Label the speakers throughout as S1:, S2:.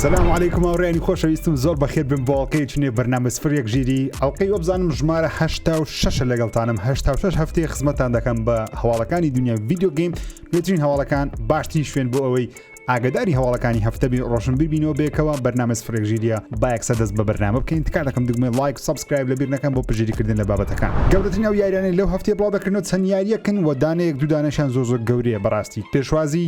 S1: سلام عیکم هاوڕێنی خۆشەویستم زۆر بەخێت بم بۆڵکەی چنێ بەرنامە سفر یەک ژیری ئەڵلقەی وەبزانم ژمارە هشتا و شش لەگەڵتانم هشتا و شش هەفتەیە خزمەتان دەکەم بە هەواڵەکانی دنیا ویددیو گەیم بێترین هەواڵەکان باشترین شوێن بۆ ئەوەی ئاگەداری هەواڵەکانی هەفتە بین ڕۆشنبیر بینەوە بەیەکەوە بەرنامە سفرێک ژیریە با یەکسەر دەست بە بەرنامە بکەین تکا دەکەم دگمەی ڵایک و سەبسکرایب لەبیر نەکەن بۆ پشتگیری کردن لە بابەتەکان گەورەترین ئەو یاریانەی لەو هەفتەیە بڵاو دەکرێنەوە چەند یاریەکن وە دانەیەک دوو دانەشیان زۆر زۆر گەورەیە بەڕاستی پێشوازی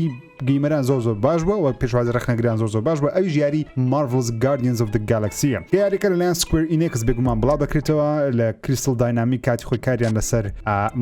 S1: گیمەران زۆر زۆر باش بووە وە پێشوازی ڕەخنەگران زۆر زۆر باش بووە ئەویش یاری Marvel's Guardians of the Galaxy کە یاریەکە لەلایەن Square Enix بێگومان بڵاو دەکرێتەوە لە Crystal Dynamics کاتی خۆی کاریان لەسەر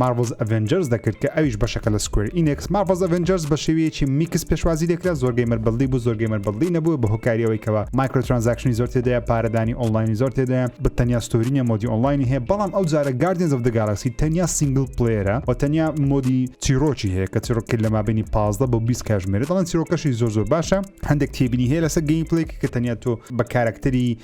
S1: مارڤڵز ئەڤێنجەرز دەکرد کە ئەویش بەشەکە لە سکوێر ئینێکس مارڤڵز ئەڤێنجەرز بە شێوەیەکی میکس پێشوازی لێکرا زۆر گەیمەر بەڵدی بوو زۆر گەیمەر بەڵدی نەبوو بە هۆکاری ئەوەی کەوە مایکرۆ ترانزاکشنی زۆر تێدایە پارەدانی ئۆنلاینی زۆر تێدایە بە تەنیا ستۆری نیە مۆدی ئۆنلاینی هەیە بەڵام ئەو جارە گاردین زەف دە گالاکسی تەنیا سینگل پلێرە و تەنیا مۆدی چیرۆکی هەیە کە چیرۆکی لە مابینی 15 بۆ 20 کاژمێرە دەڵێن چیرۆکەشی زۆر زۆر باشە هەندێک تێبینی هەیە لەسەر گەیم پلێک کە تەنیا تۆ بە کارکتەری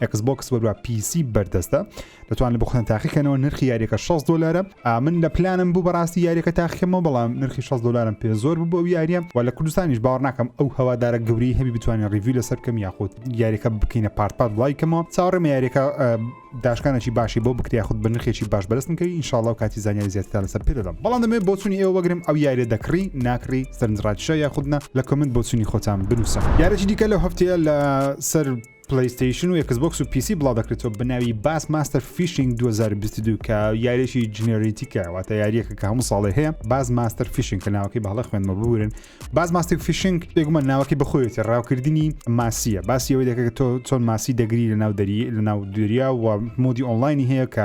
S1: ئەکس بۆکس وەروە پیسی بەردەستە دەتوان لە بخۆن تاقیکەنەوە نرخی یاریەکە 6 دلارە ئامن لە پلانم بوو بەڕاستی یاریەکە تاقیکەمەوە بەڵام نرخی 6 دلارم پێ زۆر بوو بۆ یاریە و لە کوردستانیش باوەڕ ناکەم ئەو هەوادارە گەوری هەبی بتوانین ڕیوی لەسەر کەم یاخود یاریەکە بکەینە پارتپات لایکەمەوە چاڕێمە یاریەکە داشکانێکی باشی بۆ بکریا خود بە نرخێکی باش بەرستن کەی انشاءڵاو کاتی زانیاری زیاتر لەسەر پێ دەدەم بەڵام دەمێ بۆچونی ئێوە وەگرم ئەو یاریە دەکڕی ناکڕی سەرنجڕاکیشە یاخودنا لە کمنت بۆچونی خۆتان بنووسە یارەکی دیکە لەو هەفتەیە لە سەر پلەیستەیشن و ئێکسبۆکس و پیسی بڵاودەکرێتەوە بە ناوی باس ماستەر فیشینگ 2022 کە یاریەکی جنێریتیکە واتە یاریەکە کە هەموو ساڵێ هەیە باز ماستەر فیشنگ کە ناوەکەی بەهڵە خوێنمە ببورن باز ماستێک فیشنگ بێگومان ناوەکەی بخۆێتی ڕاوکردنی ماسیە باسی ئەوەی دەکە تۆ چۆن ماسی دەگری لە ناو دەری لە ناو دوریا و مۆدی ئۆنلاینی هەیە کە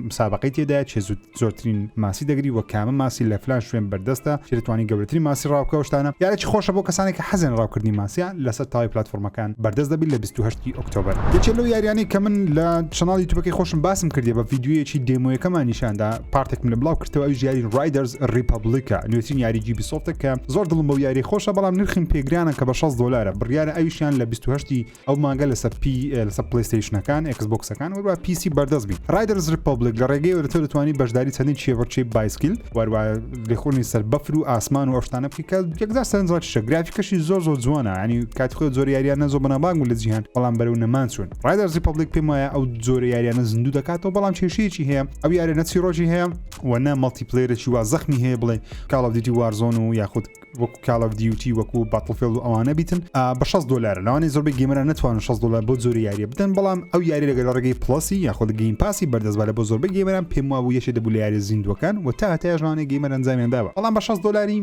S1: مسابقی تێدا چێزوت زۆرترین ماسی دەگری وە کامە ماسی لە فلان شوێن بەردەستە چی دەتوانی گەورەترین ماسی ڕاوکە و شتانە یارەکی خۆشە بۆ کەسانێک کە حەزیان ڕاوکردنی ماسیە لەسەر تەواوی پلاتفۆرمەکان بەردەست دەبی لە بیست و هەشت ی ئۆکتۆبەر یەکێ لەو یاریانەی کە من لە چەناڵ یوتوبەکەی خۆشم باسم کردیە بە ڤیدیۆیەکی دێمۆیەکەمان نیشاندا پارتێکم لە بڵاو کردەوە ئەویش یاری ڕایدەرز ڕیپەبلیکە نوێترین یاری جیبی سۆفتە کە زۆر دڵم بەو یاری خۆشە بەڵام نرخیم پێ گرانە کە بە شەست دۆلارە بڕیارە ئەویشیان لە بیست و هەشت ی ئەو مانگە لەسەر پی لەسەر پلیستیشنەکان ئەکس بۆکسەکان وەروە پیسی بەردەست بی ڕایدرز ریپبلیک لە ڕێگەی وەرە تۆ دەتوانانی بەشداری چەندین چێوەڕچەی بایسکیل وەروە لێخۆنی سەر بەفر و ئاسمان و ئەشتانە بکە یەکدا سەرنجڕاکیشە گرافیکەشی زۆر زۆر جوانە ینی کاتی خۆ زۆر یاریان نەزۆ بەنابانگ و لە جیهان بەڵام بەرەو نەمان چوون ڕایدرز ریپبلیک پێم وایە ئەو زۆرە یاریانە زیندوو دەکاتەوە بەڵام کێشەیەکی هەیە ئەو یارە نەچی ڕۆژی هەیە و نە مەڵتی پلێرەی وا زەخمی هەیە بڵێ کاڵاودیتی وارزۆن و یاخود وەکو کاڵ ئەف دیوتی وەکو باتڵفێڵ و ئەوانە بیتن بە 6 دلار لەوانی زۆربەی گەمرە نتوان 6 دلار بۆ زۆری یاریە بدەن بەڵام ئەو یاری لەگەل ڕێگەی پلسی یاخود گەیم پاسی بەردەستبارە بۆ زۆربەی گەمران پێم وابوو یەکێ دەبوو لە یاری زیندوەکان و تا هەتای ژانەی گەیمەر ئەنجامیان داوە بەڵام بە 6 دلاری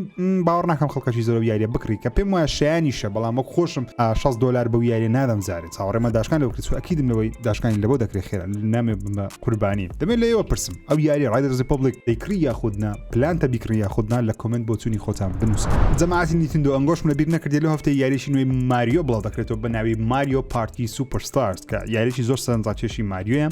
S1: باوەڕ ناکەم خەڵکەشی زۆر یاریە بکڕی کە پێم وایە شایانیشە بەڵام وەک خۆشم 6 دلار بەو یاری نادەم زارێت چاوەڕێمە داشکان لەو کچوە ئەکیدم لەوەی داشکانی لەبەوە دەکرێت خێرا نامێ بمە قوربانی دەمێ لە ئێوە پرسم ئەو یاری ڕایدەرزی پۆبلیک دەیکڕی یاخودنا پلانتە بیکڕی یاخودنا لە کۆمنت بۆ چووی خۆتان بنووسن جەماعەتی نیتندۆ ئەنگۆشم لە بیر نەکردی لە هەفتەی یاریشی نوێی ماریۆ بڵاو دەکرێتەوە بە ناوی ماریۆ پارتی سوپەرستارز کە یاریی زۆر سەرنجڕاکێشی ماریۆیە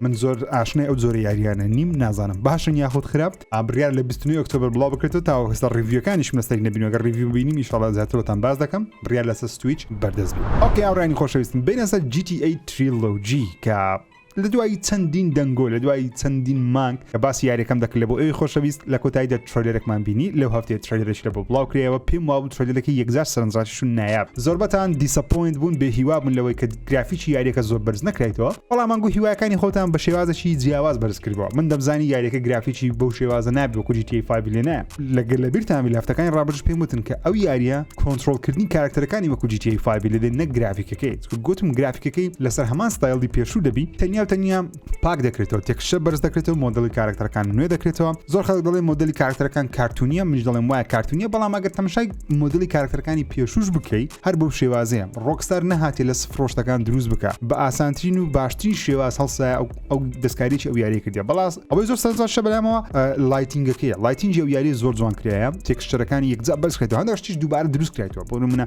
S1: من زۆر ئاشنای ئەو زۆرە یاریانە نیم نازانم باشن یاخود خراپ ئابریار لە 29 ئۆکتۆبر بڵاو بکرێتەوە تاوە هەستا ڕیڤیوەکانیش مەستەری نەبینەوەگە ڕیڤیو بینیم شڵە زیاترەوەتان باز دەکەم بڕیار لەسەر سویچ بەردەست بێت ئۆکی ئاڕانی خۆشەویستن بینەسەر GTA تریلۆجی کە لە دوای چەندین دەنگۆ لە دوای چەندین مانگ کە باسی یاریەکەم دەکرد لە بۆ ئەوی خۆشەویست لە کۆتاییدا ترۆلەرەکمان بینی لەو هەفتەیە ترۆلەرش لە بۆ بڵاوکرێەوە پێم وابوو ترۆلەرەکە یەکجار سەرنجڕاکیش و نایاب زۆربەتان دیسەپۆینت بوون بێ هیوا بوون لەوەی کە گرافیکی یاریەکە زۆر بەرز نەکرێتەوە بەڵام مانگو هیوایەکانی خۆتان بە شێوازەکی جیاواز بەرز کردەوە من دەمزانی یاریەکە گرافیکی بەو شێوازە نابێ وەکو جی تی فایڤ لێ نایە لەگەر لە بیرتان بی لە هەفتەکانی ڕابردووش پێم وتن کە ئەو یاریە کۆنترۆڵکردنی کاراکتەرەکانی وەکو جی تی فایڤی لێ دێ نەک گرافیکەکەی گوتم گرافیکەکەی لەسەر هەمان ستایلی پێشوو دەبی تەنیا و تەنیا پاک دەکرێتەوە تێکشە بەرز دەکرێتەوە مۆدلی کارکتەرەکان نوێ دەکرێتەوە زۆر خەڵک دەڵێ مۆدلی کارکتەرەکان کارتونیە منش دەڵێم وایە کارتونیە بەڵام ئەگەر تەمشای مۆدلی کارکتەرەکانی پێشوش بکەیت هەر بەو شێوازەیە ڕۆکستار نەهاتێ لە سفرۆشتەکان دروست بکە بە ئاسانترین و باشترین شێواز هەڵسایە ئەو دەستکاریی ئەو یاری کردی بەڵاس ئەوەی زۆر سەرزار شە بەلامەوە لایتینگەکەی لایتینجی و یاری زۆر جوان کرایە تێکشتەرەکانی یەکجا بەرز کرێتەوە هەندەشتیش دووبارە دروست کرێتەوە بۆ منە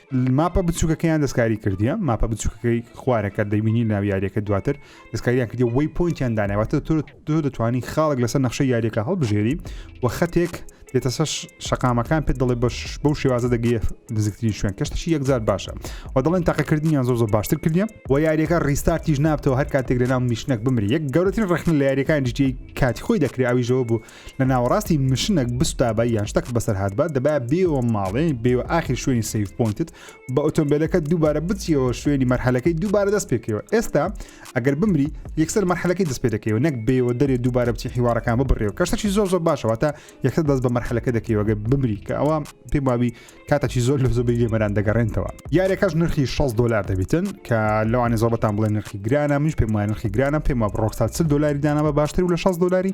S1: ماپە بچووکەکەیان دەستکاری کردیە ماپە بچووکەکەی خوارەکە دەبینی ناو یاریەکە دواتر دەستکاریان کردی وەی پوینتیان داناواتە تۆ تۆ دەتوانانی خاڵک لەسەر نەخشە یاریەکە هەڵبژێری و خەتێک دێتە سەر شقامەکان پێ دەڵێ بەش بەو شێوازە دەگەیە نزیکترین شوێن کەشتشی یەکجار باشە و دەڵێن تاقەکردنیان زۆر زۆر باشتر کردیم و یاریەکە ڕیستارتیش نابتەوە هەر کاتێک لە ناو نیشنەک بمری یەک گەورەترین ڕخن لە یاریەکان جیتی کاتی خۆی دەکرێت ئەویشەوە بوو لە ناوەڕاستی مشنەک بستابا یان شتەکت بەسەر هاتبا دەبایە بێوە ماڵێ بێوە ئاخیر شوێنی سیف پوینتت بە ئۆتۆمبیلەکە دووبارە بچیەوە شوێنی مەرحەلەکەی دووبارە دەست پێکەوە ئێستا ئەگەر بمری یەکسەر مەرحەلەکەی دەست پێ دەکەوە نەک بێوە دەرێ دووبارە بچی حیوارەکان ببڕێەوە کەشتەکی زۆر زۆر باشەوە تا یەکسەر دەست بە مەرحەلەکە دەکەیوەگە بمری کە ئەوە پێم وابی کاتەکی زۆر لە زۆبی لێمەران دەگەڕێنتەوە یارەکەش نرخی 6 دلار دەبیتن کە لەوانی زۆبەتان بڵێ نرخی گرانە منش پێم وای نرخی گرانە پێم وە ڕۆکسات دلاری دانامە باشتر و لە 6 دلاری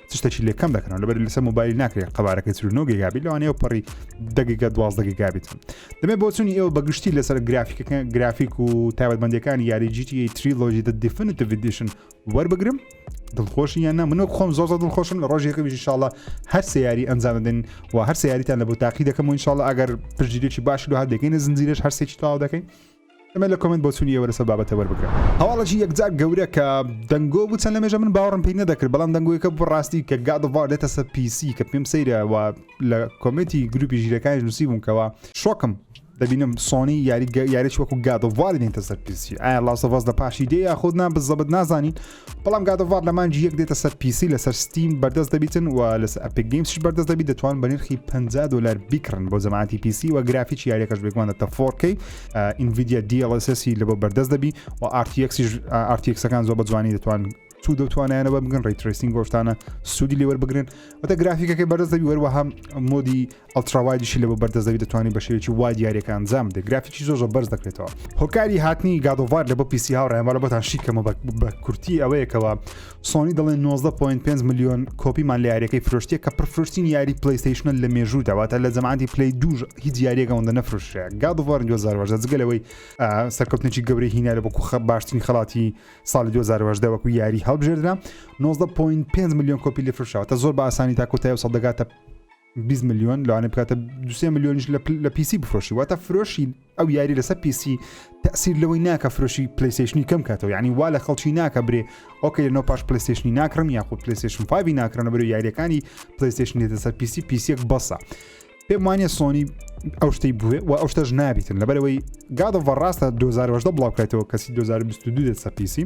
S1: چ شتێکی لێ کەم دەکەنەوە لەبەر لەسەر موبایل ناکرێت قەبارەکەی چ نۆ گێگابیت لەوانەیە پەڕی دەگیگە دوازدە گێگابیت دەبێت بۆچوونی ئێوە بەگشتی لەسەر گرافیکەکە گرافیک و تایبەتمەندەکانی یاری جیتی تریلۆژی دە دیفنت ڤیدیشن وەربگرم دڵخۆشی یان نە منۆک خۆم زۆزە دڵخۆشم لە ڕۆژێکە بژی شاڵە هەر سیاری ئەنجام دەدەین و هەر سیاریتان لە بۆ تاقی دەکەم و انشاءڵ ئەگەر پرژیرێکی باش لە هەر دەکەین زنجیرش هەرسێکی تاوا دەکەین ئەمە لە کۆمێنت بۆچونی ئێوە لەسەر بابەتە وەربگرە. هەواڵێکی یەکجار گەورە کە دەنگۆ بوو چەند لەمێژە من باوەڕم پێی نەدەکرد بەڵام دەنگۆیەکە بوو ڕاستی کە گاد ئۆف وار دێتە سەر پیسی کە پێم سەیرە و لە کۆمێنتی گروپی ژیرەکانیش نووسیبووم کەوە شۆکم دەبینم سۆنی یاری یاریش وەکو گاد ئۆف وار دێنتە سەر پیسی ئایا لاست ئۆف ئەس لە پاشی دێ یاخود نا بزەبت نازانین بەڵام گاد ئۆف وار لە مانگی یەک دێتە سەر پیسی لەسەر ستیم بەردەست دەبیتن و لەسەر ئەپیک گەیمسش بەردەست دەبیت دەتوان بە نرخی 50 دلار بیکڕن بۆ جەماعەتی پیسی و گرافیکی یاریەکەش بێگومان دەتە 4K ئینڤیدیا DLSS لە بۆ بەردەست دەبی و RTX RTXەکان زۆر بە جوانی دەتوان تو دەتوانیانە بە بگن ڕیترسینگ گۆشتانە سوودی لێوەر بگرن وتە گرافیکەکەی بەردەست دەبی وەروەها مۆدی ئەڵتراوایدیشی لە بۆ بەردە زەوی دەتوانی بە شێوەیەکی وای دیارەکە ئەنجام بدەیت گرافیکی زۆر زۆر بەرز دەکرێتەوە هۆکاری هاتنی گادۆڤار لە بۆ پیسی هاوڕێن وەلە بۆتان شیکەمە بە کورتی ئەوەیەکەوە سۆنی دەڵێن 19.5 میلیۆن کۆپیمان لە یاریەکەی فرۆشتە کە پرفرۆشتین یاری پلیستیشنە لە مێژوو داواتە لە زەمانتی پلی دوژ هیچ یاریەکەەوەندە نەفرۆشە گادۆڤار 2010 جگەلەوەی سەرکەوتنێکی گەورەی هینا لە بۆ کوخە باشترین خڵاتی ساڵی 2010 وەکو یاری هەڵبژێردرا 19.5 میلیۆن کۆپی لە فرشاوە تا زۆر بە ئاسانی تا کۆتای و سەدەگاتە بیست ملیۆن لەوانەیە بکاتە دو سێ ملیۆنیش لە پل- لە پیسی بفرۆشی واتە فرۆشی ئەو یاری لەسەر پیسی تەسیر لەوەی ناکە فرۆشی پلیسیشنی کەم کاتەوە یعنی وا لە خەڵکی ناکە برێ ئۆکە لە نۆ پاش پلیسیشنی ناکڕم یاخود پلیسیشن فاوی ناکرنە بەرو یاریەکانی پلیسیشن دێتە سەر پیسی پیسێک بەسە پێم وانە سۆنی ئەو شتەی بوێ و ئەو شتەش نابیتن لەبەرەوەی گادەوە ڕاستە 2010 بڵاوکاتەوە کەسی 2022 دێت سەر پیسی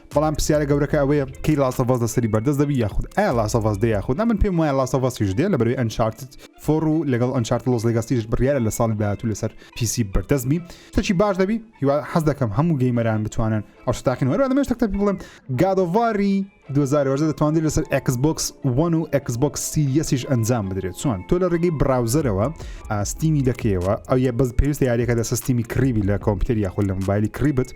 S1: بەڵام پرسیارە گەورەکە ئەوەیە کەی لاسەڤاز لەسەری بەردەست دەبی یاخود ئا لاسەڤاز دێ یاخود ئەمن پێم وایە لاسەڤاسیش دێ لە بەروی ئەنچارتت فۆڕ و لەگەڵ ئەنچارت لۆز لەگەستیش بڕیارە لە ساڵی داهاتوو لەسەر پیسی بەردەست بی تەچی باش دەبی هیوا حەز دەکەم هەموو گەیمەران بتوانن ئەو شتاقین وەرە دەمێش تەکتە بڵێم گادۆڤاری 2010 دەتوانێت لەسەر Xbox One و Xbox سیریەسیش ئەنجام بدرێت چۆن تۆ لە ڕێگەی براوزەرەوە ئاستیمی دەکەیەوە ئەو یە بەس پێویستە یاریەکە دەسە ستیمی کڕیبی لە کۆمپیوتەر یاخود لە موبایلی کڕیبت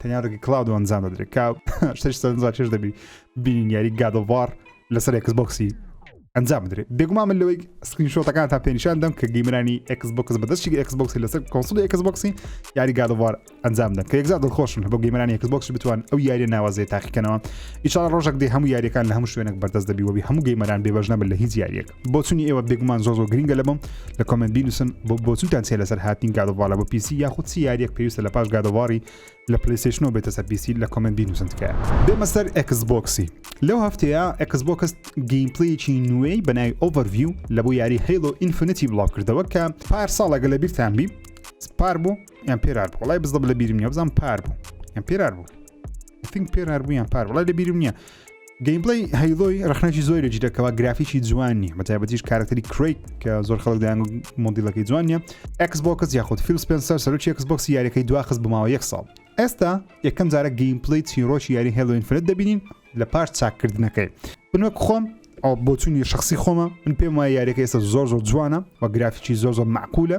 S1: تەنیا ڕێگە کلااود و ئەنجام دەدرێت کا شتش سەرنجا چێش دەبی بینین یاری گادەوار لەسەر ئەکس بۆکسی ئەنجام بدرێت بێگومان من لەوەی سکرین شۆتەکان تا پێنیشان دەم کە گەیمرانی ئەکس بۆکس بەدەستی ئەکس بۆکسی لەسەر کۆنسڵی ئەکس بۆکسی یاری گادەوار ئەنجام دەن کە یەکزار دڵخۆشم بۆ گەیمرانی ئەکس بۆکس بتوان ئەو یاری ناوازێ تاقیکەنەوە ئیشان ڕۆژێک دێ هەموو یاریەکان لە هەموو شوێنێک بەردەست دەبیوەبی هەموو گەیمەران بێبژنەبن لە هیچ یاریەک بۆچونی ئێوە بێگومان زۆ زۆ گرنگە لە بم لە کۆمنت بینوسن بۆ بۆچونتان چێ لەسەر هاتین گادەواڵە بۆ پیسی یاخود چی یاریەک پێویستە لە پاش گادەواڵی لە پلیسشنەوە بێتە سەر پیسی لە کۆمنت بینوسن تکایە بێمە سەر ئەکس بۆکسی لەو هەفتەیە ئەکس بۆکس گەیمپلیکی نوێی بەناوی ئۆڤەرڤیو لە بۆ یاری هەیڵۆ ئینفنتی بڵاو کردەوە کە پار ساڵەگە لە بیرتان بی پار بوو یان پێرار بوو وڵای بزدە لە بیرم نیە بزان پار بوو یان پێرار بوو فنگ پێرار بوو یان پار وڵای لە بیرم نیە گەیمپلەی هەیڵۆی ڕخنەکی زۆر لە جیرەکەەوە گرافیکی جوان نیە بە تایبەتیش کارکتەری کریت کە زۆر خەڵک دایان مۆدیلەکەی جوان نیە ئەکسبکس یاخود فیل سپنسەر سەرۆکی ئەکسبکس یاریەکەی دواخست بماوە یەک ساڵ ئێستا یەکەم جارە گەیمپلەی چیرۆکی یاری هێڵۆین فرەت دەبینین لە پاش چاککردنەکەی بنوەک خۆم ئەو بۆچوونی شخصی خۆمە من پێم وایە یاریەکە ئێستا زۆر زۆر جوانە و گرافیکی زۆر زۆر معقولە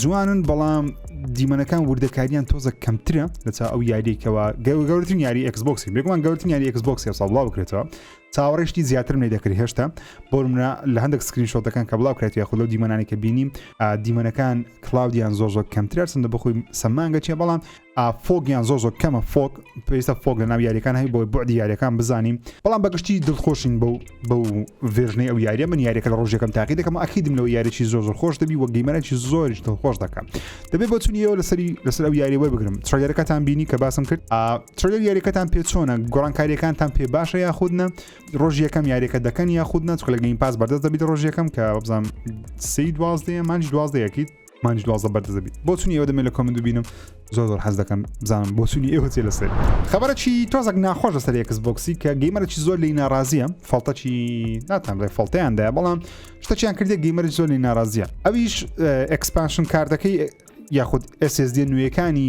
S1: جوانن بەڵام دیمەنەکان وردەکاریان تۆزە کەمترە لەچا ئەو یاریکەوە گەورترین یاری ئەکسبکسی بێگومان گەورتن یاری ئەکسبکسی سا بڵاو بکرێتەوە چاوەڕێشتی زیاترم لێ دەکرێت هێشتا بۆ منە لە هەندێک سکرین شۆتەکان کە بڵاو کرێت یاخود لەو دیمەنانی کە بینیم دیمەنەکان کلااودیان زۆر زۆر کەمترە سندە بخۆی سەمانگە چێ بەڵام فۆگیان زۆ زۆ کەمە فۆک پێویستە فۆک لە ناو یاریەکان هەی بۆی بۆعدی یاریەکان بزانین بەڵام بەگشتی دڵخۆشین بەو بەو ڤێژنەی ئەو یاریە من یاریەکە لە ڕۆژەکەم تاقی دەکەم ئەکیدم لەو یاریی زۆ زۆر خۆش دەبی وە گەیمەرەی زۆریش دڵخۆش دەکەم دەبێت بۆ چونیەوە لەسەری لەسەر ئەو یاری وەر بگرم ترەگەرەکەتان بینی کە باسم کرد ترەگەر یاریەکەتان پێ چۆنە گۆڕانکاریەکانتان پێ باشە یاخودنە ڕۆژ یەکەم یاریەکە دەکەن یاخود نەچکە لە گەین پاس بەردەست دەبیت ڕۆژ یەکەم کە بزانام سی دوازدەیە مانج دوازدەیەکیت مانج دوازدە بەردە دەبیت بۆ چونی ئەوە دەمێ لە کۆمنت ببینم زۆر زۆر حەز دەکەم بزانم بۆ چونی ئێوە چێ لەسەر خبرەکی تۆزەک ناخۆش لەسەر یەکس بۆکسی کە گەیمەرەی زۆر لی ناڕازیە فڵتەکی ناتان ڕێ فڵتەیاندا بەڵام شتەکیان کردێک گەیمەری زۆر لی ناڕازیە ئەویش ئەکسپانشن کاردەکەی یاخود SSD نوێیەکانی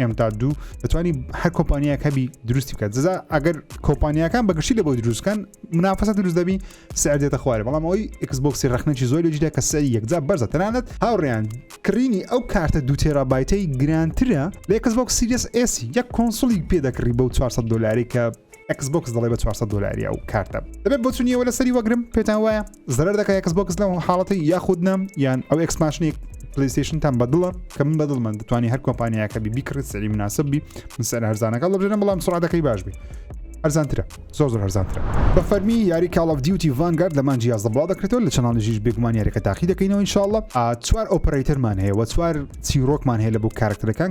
S1: ئێم تا دوو دەتوانانی هەر کۆمپانیاک هەبی دروستی بکات جزا ئەگەر کۆمپانیەکان بەگشتی لە بۆی دروستکەن منافەسە دروست دەبی سعر دێتە خوارێ بەڵام ئەوی ئەکسبکسی رەخنەی زۆر لەجیدا کە سەری یەکجا بەرزە تەنانەت هاوڕیان کڕینی ئەو کارتە دو تێرا بایتەی گرانترە لە ئەکسبک سیریس ئسی یەک کۆنسڵی پێ دەکڕی بەو 400 دلاری کە ئەکس بۆکس دەڵێ بە 400 دلاری ئەو کارتە دەبێت بۆ چونیەوە لە سەری وەگرم پێتان وایە زەرەر دەکە ئەکس بۆکس لەم حاڵەتی یاخود نام یان ئەو ئەکسماشنێک پلیستیشنتان بەدڵە کە من بەدڵ من دەتوانانی هەر کۆمپانیاکە بی بیکڕێت سەری مناسب بی من سەر هەرزانەکە لەبژێنە بەڵام سرعاتەکەی باش بی هەرزانترە زۆر زۆر هەرزانترە بە فەرمی یاری کاڵف دیوتی ڤانگارد لە مانجی یازدە بڵاو دەکرێتەوە لە چناڵی ژیش بێگومان یاریەکە تاقی دەکەینەوە انشاءله چوار ئۆپەرەیتەرمان هەیە وە چوار چیرۆکمان هەیە لە بۆ کارکتەرەکان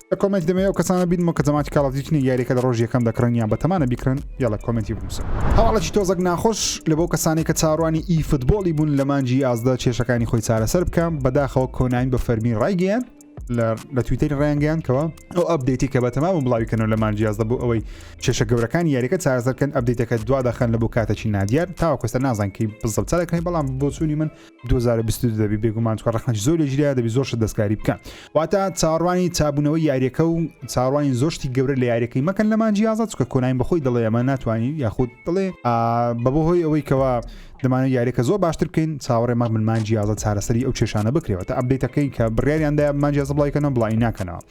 S1: لە کۆمێنتی دەمەوێت ئەو کەسانە بینمەوە کە جەماعەتی کاڵ ئۆف دیوتی نین یاریەکە لە ڕۆژی یەکەم دەکڕن یان بەتەمانە بیکڕن یاڵە کۆمێنتی بنووسن هەواڵێکی تۆزەک ناخۆش لە بۆ کەسانێک کە چاوەڕوانی ئی فوتبۆڵی بوون لە مانگی یازدە کێشەکانی خۆی چارەسەر بکەم بەداخەوە کۆناین بە فەرمی ڕایگەیاند لە تویتەری ڕیانگەیان کەەوە ئەو ئەبدەیتی کە بە تەمام و بڵاویکەنەوە لە مانگی یازدە بۆ ئەوەی کێشە گەورەکان یاریەکە چارەسەرکەن ئەبدەیتەکە دوا دەخەن لە بۆ کاتەکی نادیار تاوەکوستە نازانکەی بزڵ چارەکەی بەڵام بۆچوونی من 2022 دەبی بێگومان چکە ڕخنەش زۆر لە ژیا دەبی زۆر شت دەستکاری بکە واتە چاڕوانی چابوونەوەی یاریەکە و چاڕوانی زۆشتی گەورە لە یاریەکەی مەکەن لە مانجی یازە چکە کۆناین بەخۆی دڵێ ئەمە ناتوانین یاخود دڵێ بە بۆ هۆی ئەوەی کەەوە دەمانە یاریەکە زۆر باشتر بکەین چاوەڕێ مەمن مانجی یازە چارەسەری ئەو کێشانە بکرێەوە تا ئەبدەیتەکەی کە بڕیاریاندا مانجیازە بڵایکەنەوە بڵی ناکەنەوە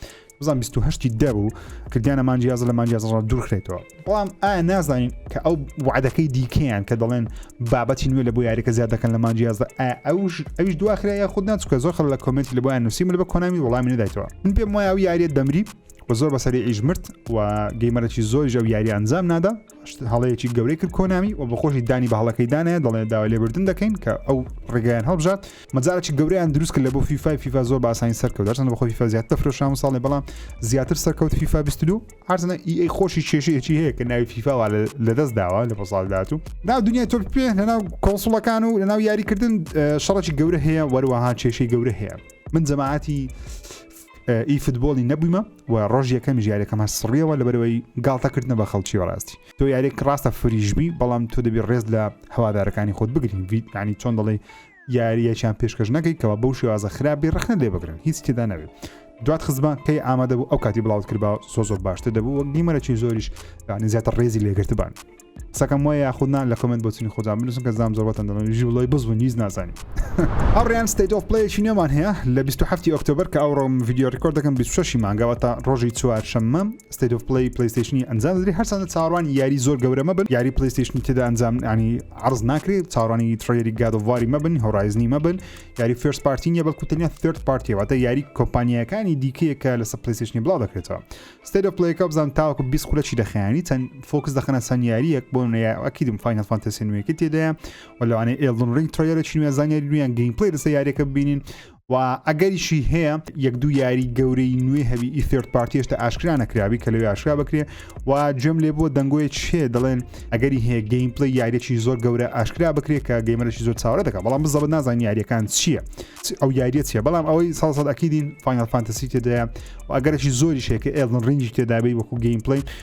S1: بزان 28 دە بوو کردیانە مانجیازە لە مانجیازڕ دوورخێتەوە بەڵام ئایا نازانین کە ئەو وعدەکەی دیکەیان کە دەڵێن بابەتی نوێ لە بۆ یاریکە زیاد دەکەن لە مانجیازە ئەوش ئەوش دواخرا یا خود ناچکە زۆر خەڵ لە کۆمنتی لە بۆیان نووسیم لە بە کۆنامی وڵامی نەدایتەوە من پێم وایە ئەو یاریت دەمری و زۆر بەسەری ئیش مرد و گەیمەرەی زۆر ژەو یاری ئەنجام نادا هەڵەیەکی گەورەی کرد کۆنامی و بەخۆشی دانی بە هەڵەکەی دانە دەڵێ داوا لێبردن دەکەین کە ئەو ڕێگەیان هەڵبژات مەجاڵێکی گەورەیان دروست کرد لە بۆ فیفای فیفا زۆر باسانی سەرکەوت هەرچەند بەخۆ فیفا زیاد تەفرۆشام و ساڵێ بەڵام زیاتر سەرکەوت فیفا بیستلو هەرچەنە ئی خۆشی کێشەیەکی هەیە کە ناوی فیفاوا لە دەست داوە لە پۆساڵدات و ناو دنیای تۆپ پێ لەناو کۆنسڵەکان و لەناو یاریکردن شەڕێکی گەورە هەیە وەروەها کێشەی گەورە هەیە من جەماعاتی ئی فوتبۆلی نەبوویمە و ڕۆژ یەکەم ژارەکەم هە سڕیەوە لە بەرەوەی گاڵتەکردنە بە خەڵکی ڕاستی تۆ یارێک ڕاستە فریشبی بەڵام تۆ دەبی ڕێز لە هەوادارەکانی خۆت بگرین ینی چۆن دەڵێ یاریەکیان پێشکەش نەکەی کەوا بەو شێوازە خراپبی ڕخنە لێ بگرن هیچ تێدا نەبێت دوات خزمان کەی ئامادە بوو ئەو کاتی بڵاوت کرد بە سۆ زۆر باشتر دەبوو وەک دیمەرەی زۆریش یعنی زیاتر ڕێزی لێگرتبان قسەکەم وایە یاخودنا لە کمنت بۆچنی خۆدان بنووسن کە زام زۆربەتەن دەڵێن ژی بڵی بزبوون هیچ نازانین ئەڕیان ستیت ئۆف پلەیەکی نوێمان هەیە لە 27 ئۆکتۆبر کە ئەو ڕۆم ڤیددیو ڕکۆرد دەکەم 26 مانگەوە تا ڕۆژی چوار شەممە ستیت ئۆف پلی پلیستیشنی ئەنجام دەدری هەرسانە چاڕوان یاری زۆر گەورەمە بن یاری پلیستیشنی تێدا ئەنجام ینی عەڕز ناکرێ چاوەڕانی تڕەیلەری گاد ئۆف واری مەبن هۆڕایزنی مەبن یاری فێرست پارتی نیە بەڵکو تەنیا ثێرد پارتیە واتە یاری کۆمپانیاکانی دیکەیە کە لەسەر پلەیستێشنی بڵاو دەکرێتەوە ستەیل ئۆف پلەیەکە بزان تاوەکو 20 خولە چی دەخەیەنی چەند فۆکس دەخەنە چەند یارییەک بۆ نەیە ئەکیدم فاینەل فانتەسی نوێیەکەی تێدایە و لەوانەیە ئێڵدن ڕینگ تڕەیلەرێکی نوێ زانیاری نوێیان گەیم پلەی لەسەر یاریەکە ببینین و ئەگەریشی هەیە یەک دوو یاری گەورەی نوێ هەبی ئی ثرد پارتی هێشتا ئاشکرا نەکراوی کە لەوێ ئاشکرا بکرێ و گوێم لێ بۆ دەنگۆی چێ دەڵێن ئەگەری هەیە گەیم پلی یاریێکی زۆر گەورە ئاشکرا بکرێت کە گەیمەرەی زۆر چاوە دەکە بەڵام بزەبە نازان یاریەکان چییە ئەو یاریە چیە بەڵام ئەوەی ساڵسەد ئەکیدین فینال فانتەسی تێدایە و ئەگەرەی زۆری شێکە ئێڵن ڕنجی تێدابی وەکو گەیم پلی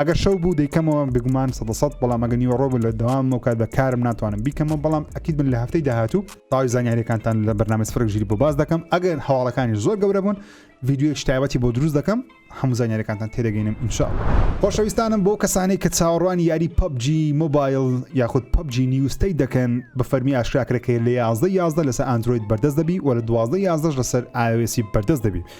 S1: ئەگەر شەو بوو دەیکەمەوە بگومان سە سەد بەڵام ئەگە نیوەڕۆ بوو لە دەوام مەکات بە کارم ناتوانم بیکەمەوە بەڵام ئەکییت من لە هەفتەی داهاتوو تاوی زانیارەکانتان لە بەرنامە سفرک ژیری بۆ باز دەکەم ئەگەر هەواڵەکانی زۆر گەورە بوون یددیوەک شتایبەتی بۆ دروست دەکەم هەموو زانیارەکانتان تێدەگەینم ئینشا خۆشەویستانم بۆ کەسانی کە چاوەڕوانی یاری پەبجی مۆبایل یاخود پەبجی نیوستەی دەکەن بە فەرمی ئاشکراکرەکەی لە یازدە یازدە لەسەر ئەندروید بەردەست دەبی وە لە دوازدە یازدەش لەسەر ئاوێسی بەردەست دەبی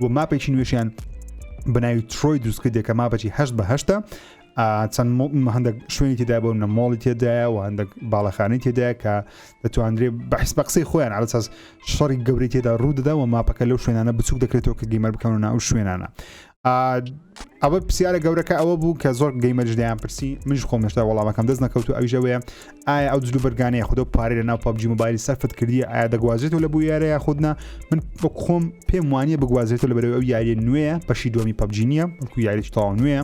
S1: و ماپێکی نوێشیان بەناوی ترۆی دروستکردێک کە ماپەچی هەشت بە هەشتە چەند هەندێک شوێنی تێدا بۆ منە مۆڵی تێدایە و هەندێک باڵەخانی تێدایە کە دەتواندرێ بەحس بە قسەی خۆیان ئالساس شەڕی گەوری تێدا ڕوودەدا و ماپەکە لەو شوێنانە بچوک دەکرێتەوە کە گەیمەر بکەون ناو شوێنانە ئەوە پرسیارە گەورەکە ئەوە بوو کە زۆر گەیمەرش دەیان پرسی منش خۆمشتا وەڵامەکەم دەست نەکەوت و ئەوژەوەیە ئایا ئەو جلوبەرگانەیە خودۆ پارەی لە ناو پبجی مۆبایلی سەرفت کردی ئایا دەگوازێتەوە لە بۆ یارە یاخودنا من بە خۆم پێم وانە بگوازێتەوە لە بەرەوە ئەو یاریە نوێیە بەشی دومی پبجی نییە وەکو یاریش تاوا نوێە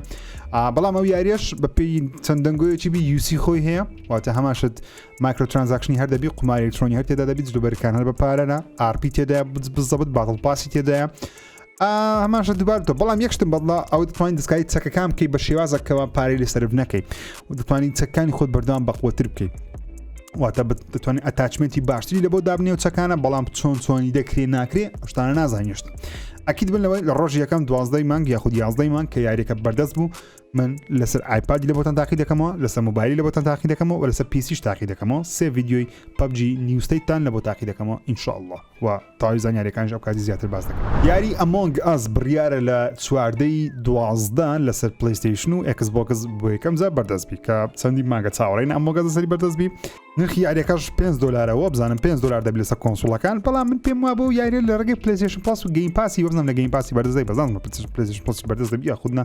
S1: بەڵام ئەو یاریش بە پێی چەند دەنگۆیەکی بی یوسی خۆی هەیە واتە هەماشت مایکرۆ ترانزاکشنی هەر دەبی قماری ئەلکترۆنی هەر تێدا دەبیت جلوبەرکان هەر بە پارەە ئارپی تێدا بزەبت باتڵ پاسی تێدایە هەماشە دووبار تۆ بەڵام یەکشتم بەڵا ئەو دەتوانین دەستکاری چەکەکان بکەیت بە شێوازەکەەوە پارەی لە سرف نەکەیت و دەتوانین چەکانی خۆت بەردەوام بەقوتر بکەیت واتە دەتوانین ئەتاچمنتی باشتری لە بۆ دابنێ و چەکانە بەڵام چۆن چۆنی دەکرێ ناکرێ شتانە نازانیشت ئەکییت بن لەوەی لە ڕۆژ یەکەم دوازدەی مانگ یاخود یازدەی مانگ کە یاریەکە بەردەست بوو من لەسەر ئایپادی لە بۆتان تاقی دەکەمەوە لەسەر موبایلی لە بۆتان تاقی دەکەمەوە لەسەر پیسیش تاقی دەکەمەوە سێ یددیوی پبجی نیوستەیتان لە بۆ تاقی دەکەمەوە ئینشاءله و تەواوی زانیاریەکانیش ئەو کاتی زیاتر باس دەکەم. یاری ئەمۆنگ ئەس بڕیارە لە چواردە ی دوازدە لەسەر پلەیستەیشن و ئێکس بۆکس بۆ یەکەم جار بەردەست بی کە چەندین مانگە چاوەڕێین ئەمۆگەس لەسەری بەردەست بی نرخی یاریەکەش پێنج دۆلارە وابزانم پێنج دۆلار دەبی لەسەر کۆنسوڵەکان بەڵام من پێم وابە و یاریە لە ڕێگەی پلەیستەیشن پڵەس و گەیم پاسی وەبزانم لە گەیم پاسی بەردەست دەی بەزانم پلەیستەیشن پڵەسی بەردەست دەبی یاخود نا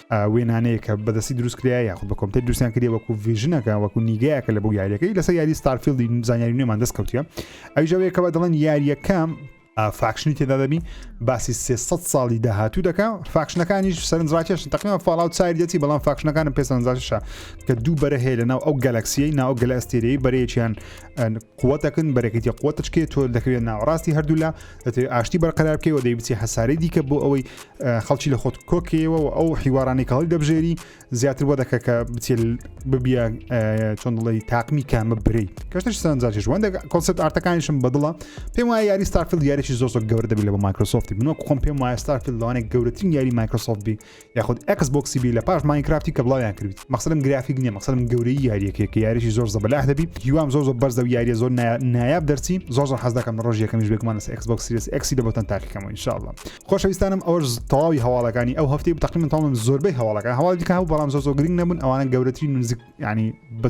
S1: وێنانەیە کە بەدەستی دروست کرایە یاخود بە کۆمپیوتەر دروستیان کردی وەکو ڤژنەکە وەکو نیگایەکە لە بۆ یاریەکەی لەسەر یاری ستارفیلدی زانیاری نوێمان دەست کەوتە ئەوژەوەیە کەەوە دەڵێن یاریەکەم فاکشنی تێدا دەبی باسی 300 ساڵی داهاتوو دەکە فاکشنەکانیش سەرنجڕاکێش تەقیمە فاڵاو چای دەچی بەڵام فاکشنەکانم پێ سەرنجاشە کە دوو بەرە هەیە لە ناو ئەو گەلەکسیەی ناو گەلە ئەستێرەی بەرەیەکیان قوتەکن بەرەکەی قوتەچکێ تۆ دەکەوێت ناوەڕاستی هەردوولا دەتەوێت ئاشتی بەرقەرار بکەیەوە دەی بچی هەسارەی دیکە بۆ ئەوەی خەڵکی لە خۆت کۆکەوە و ئەو حیوارانی کاڵی دەبژێری زیاتر بۆ دەکە کە بچێت ببیە چۆن دڵی تاقمی کامە برەی کەشتش سەرنجاش وەندە کۆسەت ئارتەکانیشم بەدڵە پێم وایە یاری ستارفیل یاریی زۆر زۆر گەورە دەبی لە بە مایکرۆسۆفتی بنۆ خۆم پێم وایە ستارفیل لەوانێک گەورەترین یاری مایکرۆسۆفت بی یاخود ئێکس بۆکسی بی لە پاش ماینکرافتی کە بڵاویان کردیت مەقصدم گرافیک نییە مەقصدم گەورەی یاریەکەیە کە یاریشی زۆر زەبەلاح دەبی هیوام زۆر زۆر بەرزە و یاریە زۆر نایاب دەرچی زۆر زۆر حەز دەکەم ڕۆژ یەکەمیش بێگومان لەسەر ئێکس بۆکس سیریس ئێکسی دەبتن تاقیکەمەوە انشاءالله خۆشەویستانم ئەوەش تەواوی هەواڵەکانی ئەو هەفتەی تقریبا تەواوم زۆربەی هەواڵەکان هەواڵی دیکە هەبوو بەڵام زۆر زۆر گرنگ نەبوون ئەوانە گەورەترین و نزیک ینی بە